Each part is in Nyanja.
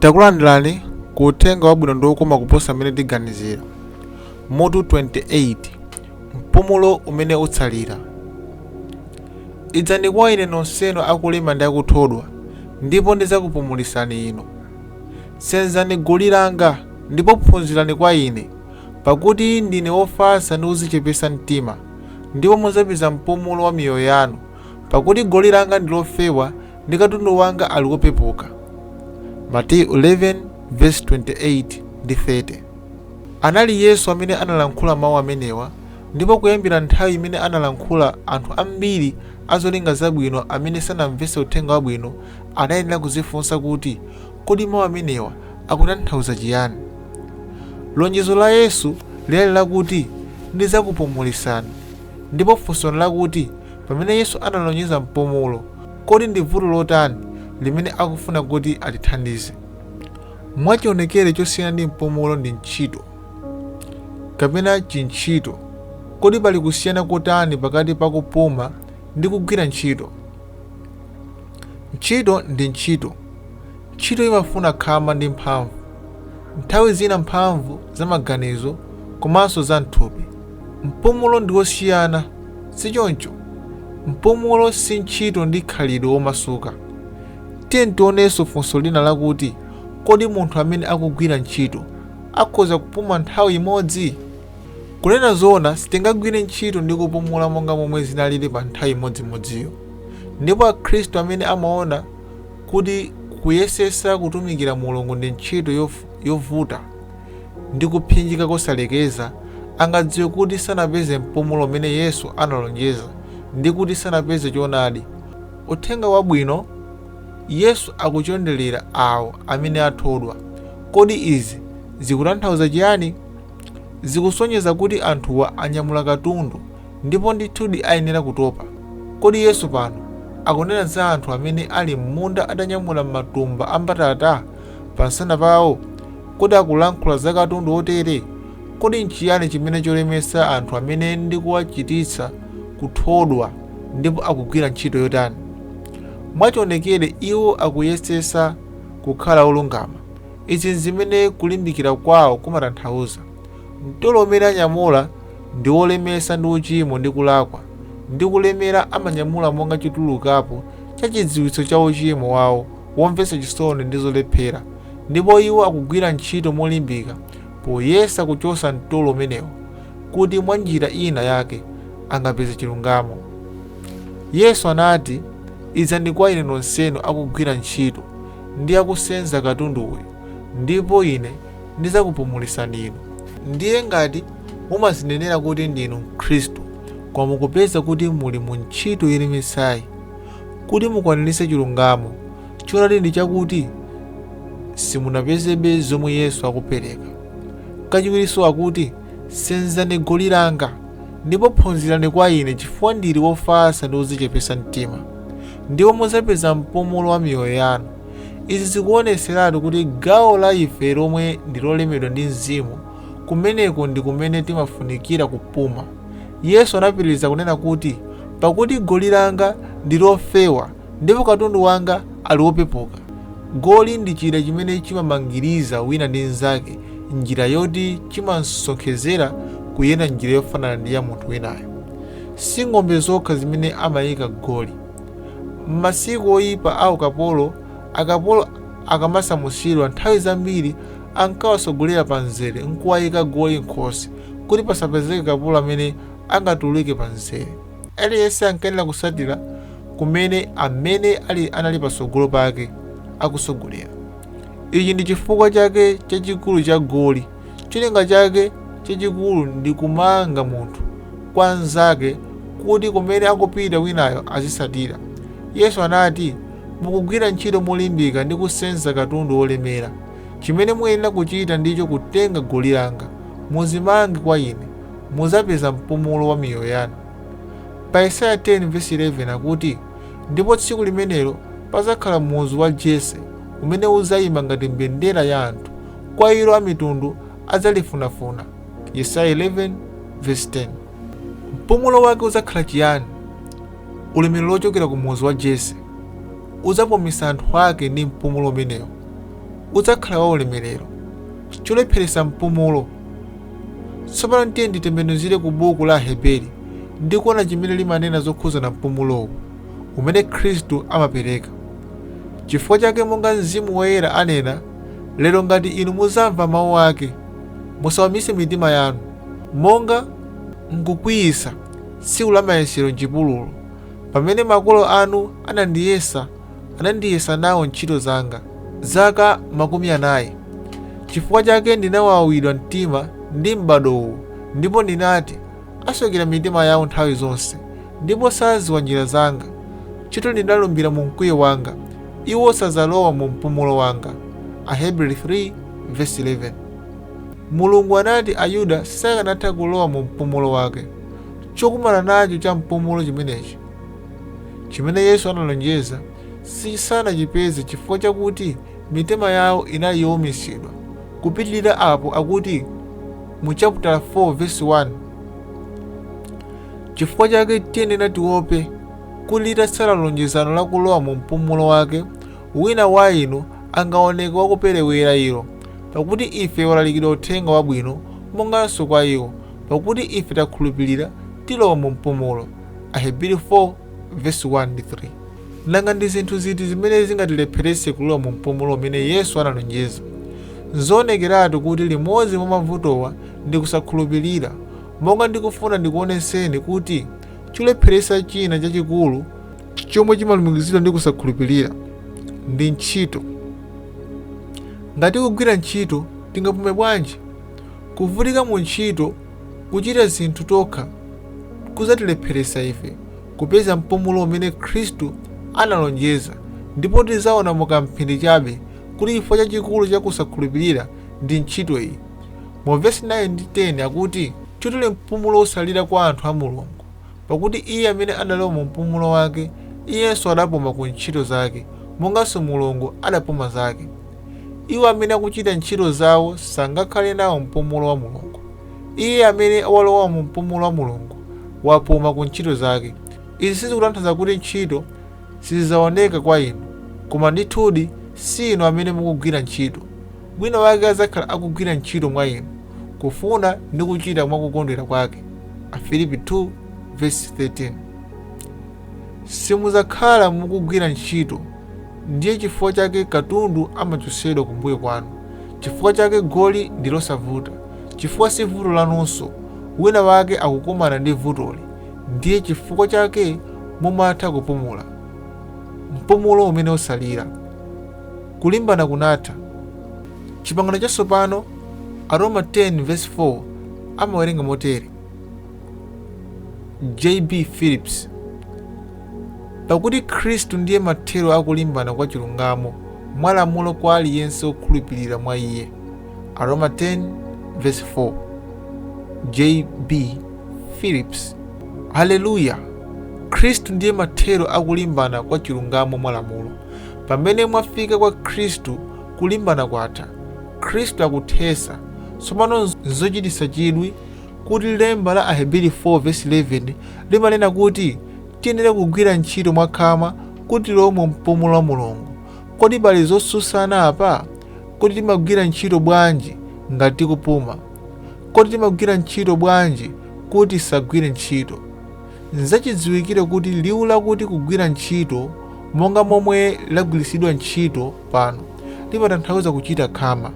takulandirani ku uthenga wabwino ndi wokoma kuposa mmene tiganizira mutu 28 mpumulo umene utsalira idzani kwa ine nonsenu akulema ndi akuthodwa ndipo ndidzakupumulitsani inu Senzani goli langa, ndipo phunzirani kwa Ine, pakuti ndine wofatsa ndi wodzichepetsa mtima, ndipo mudzapeza mpumulo wa miyoyo yanu, pakuti goli langa ndi lofewa ndi katundu wanga ali wopepuka. Mateyu 11 verse 28 ndi 30. Anali Yesu amene analankhula mawu amenewa, ndipo kuyambira nthawi imene analankhula, anthu ambiri a zolinga zabwino amene sanamvetse uthenga wabwino Anayenera kudzifunsa kuti, Kodi mawu amenewa akutanthauza chiyani? Lonjezo la Yesu linali lakuti, Ndidzakupumulitsani. Ndipo funso n'lakuti, Pamene Yesu analonjeza mpumulo, kodi ndi vuto lotani limene akufuna kuti atithandize? Mwachionekere chosiyana ndi mpumulo ndi ntchito, kapena chintchito. Kodi pali kusiyana kotani pakati pa kupuma ndi kugwira ntchito? Ntchito ndi ntchito. Ntchito imafuna khama ndi mphamvu. Nthawi zina mphamvu za maganizo komanso za m'thupi. Mpumulo ndi wosiyana, si choncho? Mpumulo si ntchito ndi khalidwe womasuka. Tiyeni tionenso funso lina lakuti, Kodi munthu amene akugwira ntchito akhoza kupuma nthawi imodzi? Kunena zoona, sitingagwire ntchito ndi kupumula monga momwe zinaliri pa nthawi imodzimodziyo. Ndipo Akhristu amene amaona kuti kuyesetsa kutumikira Mulungu ndi ntchito yof- yovuta ndi kupsinjika kosalekeza, angadziwe kuti sanapeze mpumulo umene Yesu analonjeza ndi kuti sanapeze choonadi. Uthenga Wabwino, Yesu akuchonderera awo amene athodwa. Kodi izi zikutanthauza chiyani? Zikusonyeza kuti anthuwa anyamula katundu ndipo ndithudi ayenera kutopa. Kodi Yesu pano akunena za anthu amene ali m'munda atanyamula matumba a mbatata pamsana pawo? Kodi akulankhula za katundu wotere? Kodi nchiyani chimene cholemetsa anthu amene ndi kuwachititsa kuthodwa, ndipo akugwira ntchito yotani? Mwachionekere iwo akuyesetsa kukhala olungama. Izi n'zimene kulimbikira kwawo kumatanthauza, Mtolo umene anyamula ndi wolemetsa ndi uchimo ndi kulakwa, ndi kulemera amanyamula monga chotulukapo cha chidziwitso cha uchimo wawo womvetsa chisoni ndi zolephera, ndipo iwo akugwira ntchito molimbika poyesa kuchotsa mtolo umenewo kuti mwanjira ina yake angapeze chilungamo. Yesu anati, Idzani kwa ine nonsenu akugwira ntchito, ndi akusenza katundu uyu, ndipo ine ndidzakupumulitsani inu. Ndiye ngati mumadzinenera kuti ndinu Mkhristu, koma mukupeza kuti muli mu ntchito yolemetsayi, kuti mukwaniritse chilungamo, choonadi ndi chakuti simunapezebe zomwe Yesu akupereka. Kachiwirinso akuti, Senzani goli langa, ndipo phunzirani kwa ine, chifukwa ndili wofatsa ndi wodzichepetsa mtima, ndipo mudzapeza mpumulo wa miyoyo yanu. Izi zikuonetseratu kuti gawo la ife lomwe ndi lolemedwa ndi Mzimu, kumeneko ndi kumene timafunikira kupuma. Yesu anapitiriza kunena kuti, Pakuti goli langa ndi lofewa Ndipo katundu wanga ali wopepuka. Goli ndi chida chimene chimamangiriza wina ndi mnzake m'njira yoti chimasonkhezera kuyenda m'njira yofanana ndi ya munthu winayo. Si ng'ombe zokha zimene amaika goli. M'masiku oipa a ukapolo, akapolo akamasamusidwa nthawi zambiri ankawatsogolera pamzere n'kuwaika goli m'khosi kuti pasapezeke kapolo amene angatuluke pamzere. Aliyense ankayenera kutsatira kumene amene ali anali patsogolo pake akutsogolera. Ichi ndi chifukwa chake chachikulu cha goli. Cholinga chake chachikulu ndi kumanga munthu kwa mnzake kuti kumene akupita winayo azitsatira. Yesu anati, Mukugwira ntchito molimbika ndi kusenza katundu wolemera. Chimene muyenera kuchita ndicho kutenga goli langa. Mudzimange kwa ine. mudzapeza mpumulo wa miyoyo yanu. Pa Yesaya 10 vesi 11 akuti, Ndipo tsiku limenelo padzakhala muzu wa Jese umene udzayima ngati mbendera ya anthu, kwa ilo amitundu adzalifunafuna. Mpumulo wake udzakhala chiyani? Ulemerero wochokera ku muzu wa Jese udzapumitsa anthu ake ndi mpumulo umenewo. Udzakhala waulemerero. Cholepheretsa mpumulo Tsopano tiyeni titembenuzire ku buku la Aheberi ndi kuona chimene limanena zokhudzana mpumulowu umene Khristu amapereka. Chifukwa chake monga Mzimu Woyera anena, lero ngati inu muzamva mawu ake, musawumitse mitima yanu, monga m'kukwiyitsa tsiku la mayesero m'chipululu, pamene makolo anu anandiyesa anandiyesa nawo ntchito zanga zaka makumi anayi. Chifukwa chake ndinawawidwa mtima ndi m'bado uwu, ndipo ndinati, Asokera mitima yawo nthawi zonse, ndipo sadziwa njira zanga. Chotero ndinalumbira mu mkwiyo wanga, Iwo sadzalowa mu mpumulo wanga. Ahebri 3 vesi 11. Mulungu anati Ayuda sakanatha kulowa mu mpumulo wake. Chokumana nacho cha mpumulo chimenechi! Chimene Yesu analonjeza sichisanachipeze chifukwa chakuti mitima yawo inali youmitsidwa. Kupitirira apo akuti mu chaputala 4 vesi 1 chifukwa chake tiyenera tiope kuti litatsala lonjezano la kulowa mu mpumulo wake wina wa inu angaoneke wakuperewera ilo pakuti ife walalikidwa uthenga wabwino monganso kwa iwo pakuti ife takhulupirira tilowa mu mpumulo Ahebri 4 vesi 1 ndi 3. Nanga ndi zinthu ziti zimene zingatilepheretse kulowa mu mpumulo umene Yesu analonjeza? N'zoonekeratu kuti limodzi mwa mavutowa ndi kusakhulupirira. Monga ndikufuna ndikuonetseni kuti cholepheretsa china chachikulu chomwe chimalumikizidwa ndi kusakhulupirira ndi ntchito. Ngati tikugwira ntchito, tingapume bwanji? Kuvutika mu ntchito Kuchita zinthu tokha kudzatilepheretsa ife kupeza mpumulo umene Khristu analonjeza, ndipo tidzaona mu kamphindi chabe kuti chifukwa chachikulu cha kusakhulupirira ndi ntchito iyi. Mu vesi 9 ndi 10 akuti, Chotero mpumulo utsalira kwa anthu a Mulungu, pakuti iye amene adalowa mu mpumulo wake, iyenso adapuma ku ntchito zake, monganso Mulungu adapuma zake. Iwo amene akuchita ntchito zawo sangakhale nawo mpumulo wa Mulungu. Iye amene walowa mu mpumulo wa Mulungu wapuma ku ntchito zake. Izi sizikutanthauza kuti ntchito sizidzaoneka kwa inu, koma ndithudi si inu amene mukugwira ntchito. Wina wake adzakhala akugwira ntchito mwa inu, kufuna ndi kuchita mwa kukondwera kwake. Afilipi 2 vesi 13 Simudzakhala mukugwira ntchito. Ndiye chifukwa chake katundu amachotsedwa kumbuyo kwanu, chifukwa chake goli ndi losavuta, chifukwa si vuto lanunso, winawake akukumana ndi vutoli, ndiye chifukwa chake mumatha kupumula. Mpumulo umene watsalira. Kulimbana kunatha. Chipangano Chatsopano, Aroma 10 vesi 4 amawerenga motere. J. B. Phillips. Pakuti Khristu ndiye mathero a kulimbana kwa chilungamo mwa lamulo kwa aliyense wokhulupirira mwa Iye. Aroma 10 verse 4. J.B. Phillips. Haleluya! Khristu ndiye mathero a kulimbana kwa chilungamo mwa lamulo. Pamene mwafika kwa Khristu, kulimbana kwatha. Khristu akuthetsa. Tsopano nzochititsa chidwi kuti lemba la Aheberi 4 vesi 11 limanena kuti tiyenera kugwira ntchito mwakhama kuti tilowe mu mpumulo wa Mulungu. Kodi pali zotsutsana apa? Kodi timagwira ntchito bwanji ngati tikupuma? Kodi timagwira ntchito bwanji kuti tisagwire ntchito? N'zachidziwikire kuti liwu lakuti kugwira ntchito, monga momwe lagwiritsidwa ntchito pano limatanthauza kuchita khama.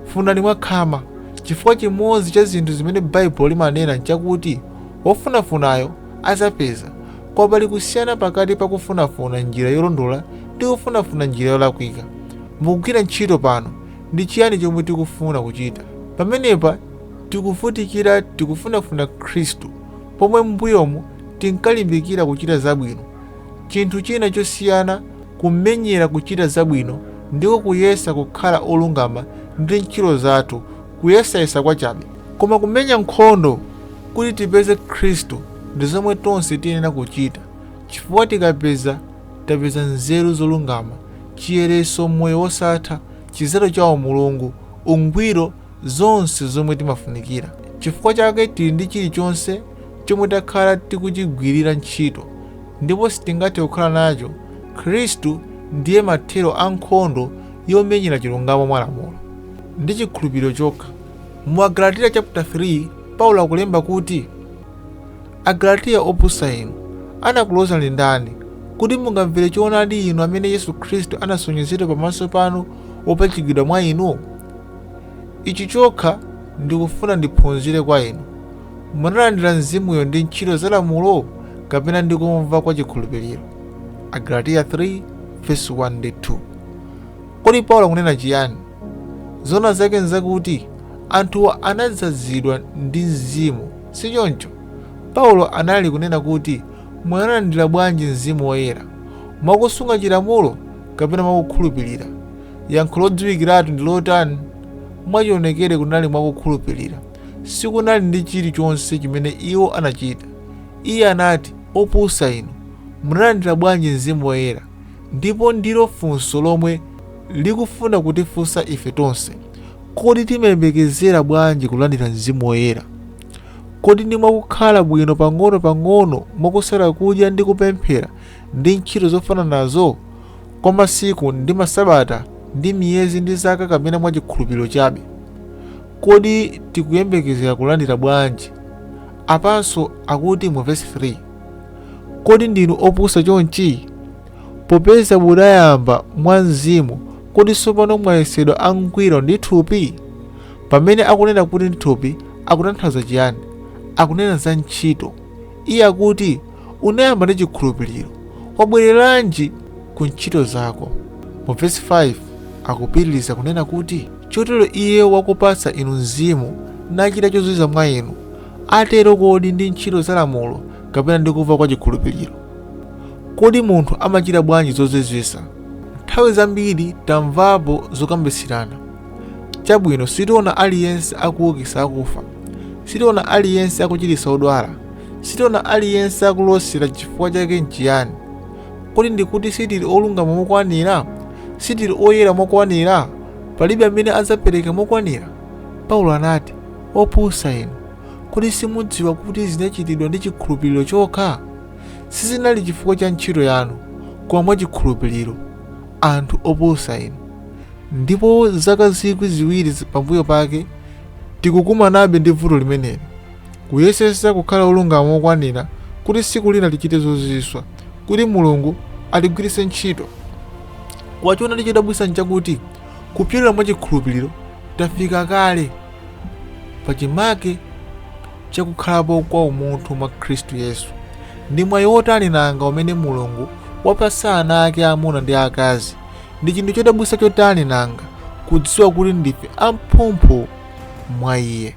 Funani mwakhama. Chifukwa chimodzi cha zinthu zimene Baibulo limanena n'chakuti wofunafunayo adzapeza. Koma pali kusiyana pakati pa kufunafuna m'njira yolondola ndi kufunafuna m'njira yolakwika. Mukugwira ntchito pano, ndi chiyani chomwe tikufuna kuchita? Pamenepa tikuvutikira, tikufunafuna Khristu, pomwe m'mbuyomu tinkalimbikira kuchita zabwino. Chinthu china chosiyana Kumenyera kuchita zabwino ndiko kuyesa kukhala olungama ndi ntchito zathu, kuyesayesa kwachabe. Koma kumenya nkhondo kuti tipeze Khristu ndi zomwe tonse tiyenera kuchita, chifukwa tikapeza, tapeza nzeru zolungama, chiyeretso, moyo wosatha, chidzalo cha umulungu, ungwiro, zonse zomwe timafunikira. Chifukwa chake tili ndi chilichonse chomwe takhala tikuchigwirira ntchito, ndipo sitingathe kukhala nacho, Khristu ndiye mathero a nkhondo yomenyera chilungamo mwa lamulo. Ndi chikhulupiriro chokha. Mu Agalatiya chaputa 3, Paulo akulemba kuti, Agalatiya opusa inu, anakulodzani ndani, kuti mungamvere choonadi inu amene Yesu Khristu anasonyezedwa pamaso panu wopachikidwa mwa inu? Ichi chokha ndikufuna ndiphunzire kwa inu, munalandira Mzimuyo ndi ntchito za lamulo kapena ndi kumva kwa chikhulupiriro? Agalatiya 3 vesi 1 ndi 2. Kodi Paulo akunena chiyani? Zoona zake nzakuti anthuwa anadzazidwa ndi Mzimu, si choncho? Paulo anali kunena kuti munalandira bwanji Mzimu Woyera? Mwakusunga chilamulo kapena mwakukhulupirira? Yankho lodziwikiratu ndi lotani? Mwachionekere kunali mwa kukhulupirira. Sikunali ndi chilichonse chimene iwo anachita. Iye anati, Opusa inu, munalandira bwanji Mzimu Woyera? Ndipo ndilo funso lomwe likufuna kutifunsa ife tonse. Kodi timayembekezera bwanji kulandira Mzimu Woyera? Kodi ndi mwakukhala bwino pang'ono pang'ono, mwakusala kudya ndi kupemphera, ndi ntchito zofananazo? kwa masiku, ndi masabata, ndi miyezi, ndi zaka, kapena mwa chikhulupiriro chabe? Kodi tikuyembekezera kulandira bwanji? Apanso akuti mu vesi 3, Kodi ndinu opusa chonchi? Popeza mudayamba mwa mzimu, kodi tsopano mwayesedwa angwiro ndi thupi? Pamene akunena kuti ndi thupi, akutanthauza chiyani? Akunena za ntchito. Iye akuti unayamba ndi chikhulupiriro, wabwereranji ku ntchito zako? Mu vesi 5 akupitiriza kunena kuti, Chotero iye wakupatsa inu mzimu, nachita zozizwa mwa inu, atero kodi ndi ntchito za lamulo kapena ndi kumva kwa chikhulupiriro? Kodi munthu amachita bwanji zozizwitsa? Nthawi zambiri tamvapo zokambitsirana. Chabwino, sitiona aliyense akuukitsa akufa, sitiona aliyense akuchiritsa odwala, Sitiona aliyense akulosera chifukwa chake nchiyani? Kodi ndikuti sitili olungama mokwanira? Sitili oyera mokwanira? Palibe amene adzapereka mokwanira? Paulo anati, Opusa inu, kodi simudziwa kuti zinachitidwa ndi chikhulupiriro chokha? Sizinali chifukwa cha ntchito yanu, koma mwa chikhulupiriro. Anthu opusa inu! Ndipo zaka zikwi ziwiri pambuyo pake, tikukumanabe ndi vuto limeneli. Kuyesetsa kukhala olungama mokwanira kuti tsiku lina tichite zozizwitsa, kuti Mulungu atigwiritse ntchito. Koma choonadi chodabwitsa n'chakuti kupyolera mwa chikhulupiriro, tafika kale pachimake cha kukhalapo kwa umunthu mwa Kristu Yesu. Ndi mwayi wotani nanga umene Mulungu wapatsa ana ake aamuna ndi aakazi! Ndi chinthu chodabwitsa chotani nanga kudziwa kuti ndife amphumphu mwa iye!